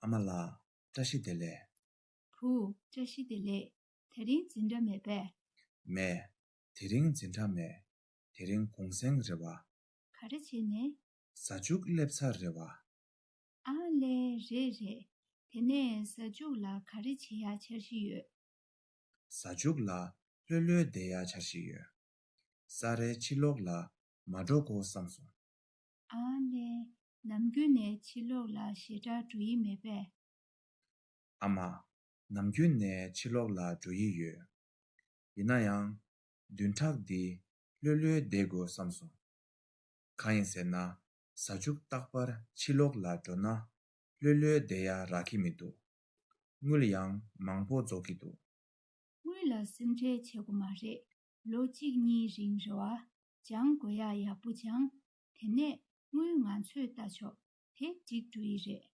ཨ་མ་ལགས། བཀྲ་ཤིས་བདེ་ལེགས། བུ། བཀྲ་ཤིས་བདེ་ལེགས། དེ་རིང་འཛིན་གྲྭ་མེད་པས། མེད། དེ་རིང་འཛིན་གྲྭ་མེད། དེ་རིང་གུང་སེང་རེད་བ། ག་རེ་བྱས་ནས། ཟ་ཆུག་སླེབས་ཚར་རེད་བ། ཨ་ལས། རེད་རེད། དེ་ནས་ཟ་ཆུག་ལ་ག་རེ་བྱེད་ཡག་འཆར་གཞི་ཡོད། གཟའ་མཇུག་ལ་ལྷོད་ལྷོད་བསྡད་ཡ་འཆར་ཞིག་ཡོད། ས་རའི་ཕྱི་ལོགས་ལ་མ་འགྲོ་གོ་བསམ་སོང། ཨ་ལེ། ནམ་རྒྱུན་ནས་ཕྱི་ལོགས་ལ་ཞེ་དྲག་འགྲོ་ཡི་མེད་པས། ཨ་མ། ནམ་རྒྱུན་ནས་ཕྱི་ལོགས་ལ་འགྲོ་ཡི་ཡོད། ཡིན་ན་ཡང། བདུན་ཕྲག་འདི་ལྷོད་ལྷོད་བསྡད་དགོས་བསམ་སོང། གང་ཡིན་ཟེར་ན་གཟའ་མཇུག་རྟག་པར་ཕྱི་ལོགས་ལ་འགྲོ་ན་ལྷོད་ལྷོད་བསྡད་ཡ་རག་གི་མི་འདུག་དངུལ་ཡང་མང་པོ་རྫོགས་ཀྱི་འདུག། དངུལ་ལ་སེམས་ཁྲལ་བྱེད་དགོས་མ་རེད། ལོ་གཅིག་གཉིས་རིང་རེ་བ་སྦྱང་དགོས་ཡག་ཡག་པོ་སྦྱང། དེ་ནས་དངུལ་ང་ཚོས་བལྟ་ཆོག་དེ་འགྲིག་འགྲོ་ཡི་རེད།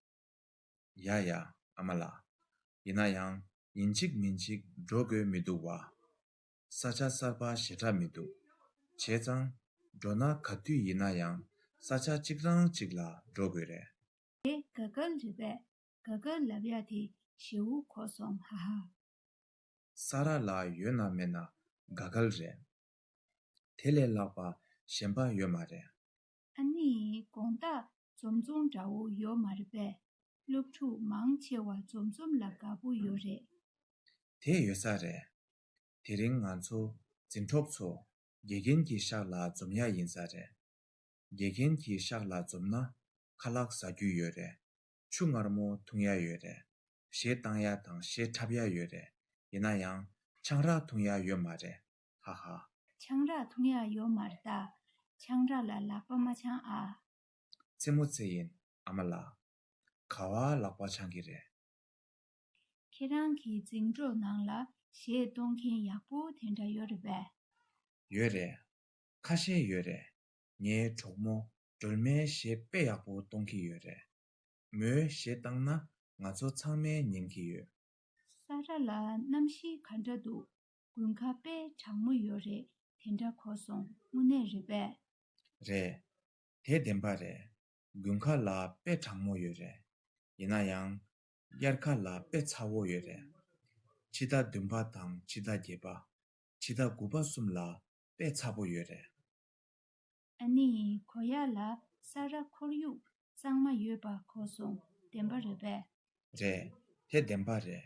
ཡ་ཡ་ཨ་མ་ལགས། ཡིན་ན་ཡང་ཉིན་གཅིག་མིན་གཅིག་འགྲོ་དགོས་མི་འདུག་བ། ས་ཆ་གསར་པ་ཞེ་དྲག་མི་འདུག་བྱས་ཙང། འགྲོ་ན་ག་དུས་ཡིན་ན་ཡང་ས་ཆ་གཅིག་རང་གཅིག་ལ་འགྲོ་དགོས་རེད། དེ་ག་ག་ལ་རེད་པས་ག་ག་ལ་བྷྱ་དེ་ཞེ་འུ་གོ་སོང་ཧ་ཧ། ས་ར་ལ་ཡོད་ན་མེད་ན་དགའ་གལ་རེད། དེ་ལས་ལྷག་པ་གཞན་པ་ཡོད་མ་རེད། ཨ་ནི་དགོངས་དག་འཛོམས་འཛོམས་འདྲ་བོ་ཡོད་མ་རེད་པས་སློབ་ཕྲུག་མང་ཆེ་བ་འཛོམས་འཛོམས་ལ་དགའ་པོ་ཡོད་རེད། དེ་ཡོད་ས་རེད། དེ་རིང་ང་ཚོ་འཛིན་གྲོགས་ཚོ་དགེ་རྒན་གྱི་ཤག་ལ་འཛོམས་ཡ་ཡིན་ས་རེད། དགེ་རྒན་གྱི་ཤག་ལ་འཛོམས་ན་ཁ་ལག་ཟ་རྒྱུ་ཡོད་རེད། ཆུ་མངར་མོ་འཐུང་ཡ་ཡོད་རེད། གཞས་བཏང་ཡ་དང་གཞས་འཁྲབ་ཡ་ཡོད་རེད། ཡིན་ན་ཡང། ཆང་རག་འཐུང་ཡ་ཡོད་མ་རེད། ཧ་ཧ། ཆང་རག་འཐུང་ཡ་ཡོད་མ་རེད་ད། ཆང་རག་ལ་ལག་པ་མ་འཆང་ཨ། རྩེད་མོ་རྩེ་ཡིན་ཨ་མ་ལགས། ག་བ་ལག་པ་འཆང་གི་རེད། ཁྱེད་རང་གི་རྫིང་སྒྲོག་ནང་ལ་གཞས་གཏོང་མཁན་ཡག་པོ་དེ་འདྲ་ཡོད་རེད་པས། ཡོད་རེད། ཁ་ཤས་ཡོད་རེད། ངའི་གྲོགས་མོ་སྒྲོལ་མའི་གཞས་དཔེ་ཡག་པོ་གཏོང་གི་ཡོད་རེད། མོའི་གཞས་བཏང་ན་ང་ཚོ་ཚང་མའི་ཉན་གི་ཡོད། ས་ར་ལ་གནམ་གཤིས་ག་འདྲ་འདུག་དགུན་ཁ་དཔེ་དྲང་མོ་ཡོད་རེད་དེ་འདྲ་གོ་སོང་དངོས་གནས་རེད་པས། རེད། དེ་བདེན་པ་རེད། དགུན་ཁ་ལ་དཔེ་དྲང་མོ་ཡོད་རེད། ཡིན་ན་ཡང། དབྱར་ཁ་ལ་དཔེ་ཚ་བོ་ཡོད་རེད། ཕྱི་ཟླ་བདུན་པ་དང་ཕྱི་ཟླ་བརྒྱད་པ། ཕྱི་ཟླ་དགུ་པ་གསུམ་ལ་དཔེ་ཚ་བོ་ཡོད་རེད། ཨ་ནི་གོ་ཡ་ལ་ས་ར་ཁོར་ཡུག་གཙང་མ་ཡོད་པ་གོ་སོང་བདེན་པ་རེད་པས། རེད། དེ་བདེན་པ་རེད།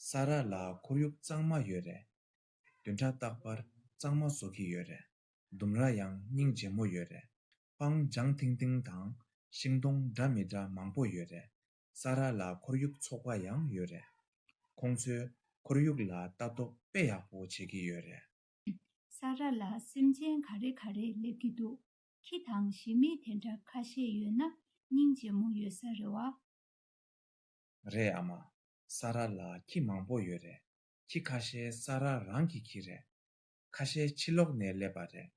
ས་ར་ལ་ཁོར་ཡུག་གཙང་མ་ཡོད་རེད། བདུན་ཕྲག་རྟག་པར་གཙང་མ་བཟོ་གི་ཡོད་རེད། ལྡུམ་ར་ཡང་སྙིང་རྗེ་མོ་ཡོད་རེད། སྤང་ལྗང་ཐིང་ཐིང་དང་ཤིང་སྡོང་འདྲ་མི་འདྲ་མང་པོ་ཡོད་རེད། ས་ར་ལ་ཁོར་ཡུག་ཚོགས་པ་ཡང་ཡོད་རེད། ཁོང་ཚོས་ཁོར་ཡུག་ལ་ལྟ་རྟོག་དཔེ་ཡག་པོ་བྱེད་ཀྱི་ཡོད་རེད། ས་ར་ལ་སེམས་ཅན་ག་རེ་ག་རེས་སླེབས་ཀྱི་འདུག་ཁྱི་དང་ཞི་མི་དེ་འདྲ་ཁ་ཤས་ཡོད་ན་སྙིང་རྗེ་མོ་ཡོད་ས་རེད་བ། རེད་ཨ་མ། ས་ར་ལ་ཁྱི་མང་པོ་ཡོད་རེད། ཁྱི་ཁ་ཤས་ས་ར་རང་གི་ཁྱི་རེད། ཁ་ཤས་ཕྱི་ལོག་ནས་སླེབས་པ་རེད།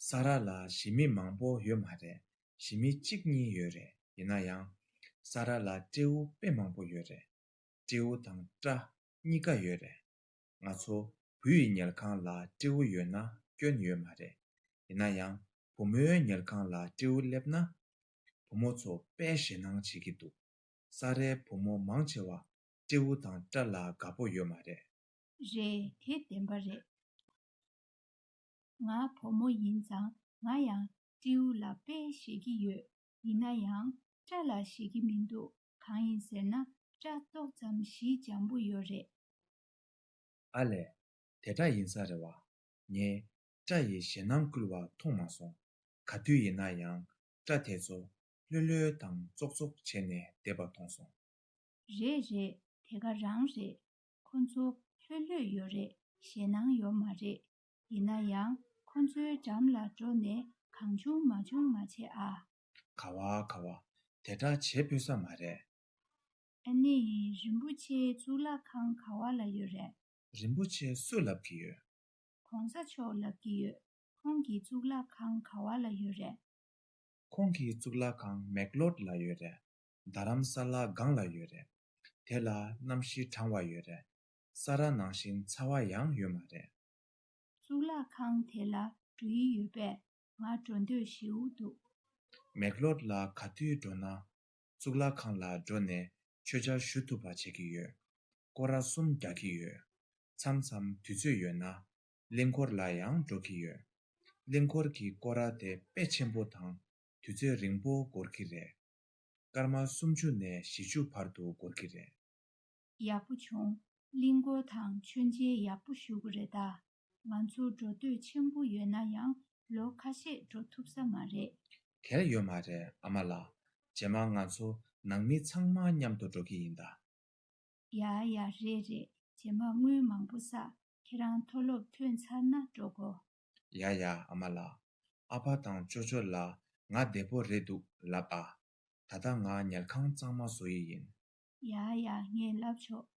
ས་ར་ལ་ཞི་མི་མང་པོ་ཡོད་མ་རེད་ཞི་མི་གཅིག་གཉིས་ཡོད་རེད་ཡིན་ན་ཡང། ས་ར་ལ་སྤྲེའུ་དཔེ་མང་པོ་ཡོད་རེད། སྤྲེའུ་དང་སྤྲ་གཉིས་ཀ་ཡོད་རེད། ང་ཚོ་བུ་ཡི་ཉལ་ཁང་ལ་སྤྲེའུ་ཡོད་ན་སྐྱོན་ཡོད་མ་རེད། ཡིན་ན་ཡང་བུ་མོའི་ཉལ་ཁང་ལ་སྤྲེའུ་སླེབས་ན། བུ་མོ་ཚོ་དཔེ་ཞེ་སྣང་བྱེད་ཀྱི་འདུག་ས་རའི་བུ་མོ་མང་ཆེ་བ་སྤྲེའུ་དང་སྤྲ་ལ་དགའ་པོ་ཡོད་མ་རེད། རེད་དེ་བདེན་པ་རེད། ང་བུ་མོ་ཡིན་ཙང་ང་ཡང་སྤྲེའུ་ལ་དཔེ་ཞེ་གི་ཡོད་ཡིན་ན་ཡང་སྤྲ་ལ་ཞེ་གི་མི་འདུག་གང་ཡིན་ཟེར་ན་སྐྲ་ཏོག་ཙམ་བཞི་འཇམ་པོ་ཡོད་རེད། ཨ་ལས། དེ་འདྲ་ཡིན་ས་རེད་བ། ངས་སྐྲ་ཡི་ཞེད་སྣང་བསྐུལ་བ་མཐོང་མ་སོང། ག་དུས་ཡིན་ན་ཡང་སྐྲ་དེ་ཚོ་ལྷོད་ལྷོད་དང་ཙོག་ཙོག་བྱས་ནས་བསྡད་པ་མཐོང་སོང། རེད་རེད་དེ་ག་རང་རེད། ཁོ་ཚོ་ལྷོད་ལྷོད་ཡོད་རེད་ཞེད་སྣང་ཡོད་མ་རེད། ཡིན་ན་ཡང་ཁོ་ཚོའི་འགྲམ་ལ་འགྲོ་ནས་གང་བྱུང་མ་བྱུང་མ་བྱེད་ཨ། ག་བ་ག་བ། དེ་འདྲ་བྱེད་ཕོད་ས་མ་རེད། ཨ་ནི་རིན་པོ་ཆེའི་གཙུག་ལག་ཁང་ག་བ་ལ་ཡོད་རེད། རིན་པོ་ཆེ་སུ་ལབ་ཀྱི་ཡོད། གོང་ས་མཆོག་ལབ་ཀྱི་ཡོད། ཁོང་གི་གཙུག་ལག་ཁང་ག་བ་ལ་ཡོད་རེད། ཁོང་གི་གཙུག་ལག་ཁང་མེག་ལོར་ལ་ཡོད་རེད། རྡ་རམ་ས་ལ་སྒང་ལ་ཡོད་རེད། དེ་ལ་གནམ་གཤིས་གྲང་བ་ཡོད་རེད། ས་ར་ནང་བཞིན་ཚ་བ་ཡང་ཡོད་མ་རེད། གཙུག་ལག་ཁང་དེ་ལ་འགྲོ་ཡི་ཡོད་པས། ང་འགྲོ་འདོད་ཞེའུ་འདུག། མེག་ལོར་ལ་ག་དུས་འགྲོ་ན། གཙུག་ལག་ཁང་ལ་འགྲོ་ནས་ཆོས་འཆར་ཞུ་ཐུབ་པ་བྱེད་ཀྱི་ཡོད། སྐོར་ར་གསུམ་རྒྱག་གི་ཡོད། མཚམས་མཚམས་དུས་ཚོད་ཡོད་ན། གླིང་འཁོར་ལ་ཡང་འགྲོ་གི་ཡོད། གླིང་འཁོར་གྱི་སྐོར་ར་དེ་དཔེ་ཆེན་པོ་དང་དུས་ཚོད་རིང་པོ་འགོར་གྱི་རེད། སྐར་མ་སུམ་ཅུ་ནས་བཞི་ཅུ་བར་དུ་འགོར་གྱི་རེད། ཡག་པོ་བྱུང། གླིང་འཁོར་དང་མཆོད་མཇལ་ཡག་པོ་ཞུ་གི་རེད་ད། ང་ཚོ་འགྲོ་འདོད་ཆེན་པོ་ཡོད་ན་ཡང་ལོ་ཁ་ཤས་འགྲོ་ཐུབ་ས་མ་རེད། དེར་ཡོད་མ་རེད་ཨ་མ་ལགས། རྗེས་མ་ང་ཚོ་ནང་མི་ཚང་མ་མཉམ་དུ་འགྲོ་གི་ཡིན་ད། ཡ་ཡ་རེད་རེད་རྗེས་མ་དངུལ་མང་པོ་བསགས་ཁྱེད་རང་མཐོ་སློབ་ཐོན་ཚར་ན་འགྲོ་གོ། ཡ་ཡ་ཨ་མ་ལགས། ཨ་ཕ་དང་ཅོ་ཅོ་ལ་ང་བདེ་པོ་རེད་འདུག་ལབ་ཨ། ད་ལྟ་ང་ཉལ་ཁང་གཙང་མ་བཟོ་ཡི་ཡིན། ཡ་ཡ་ངས་ལབ་ཆོག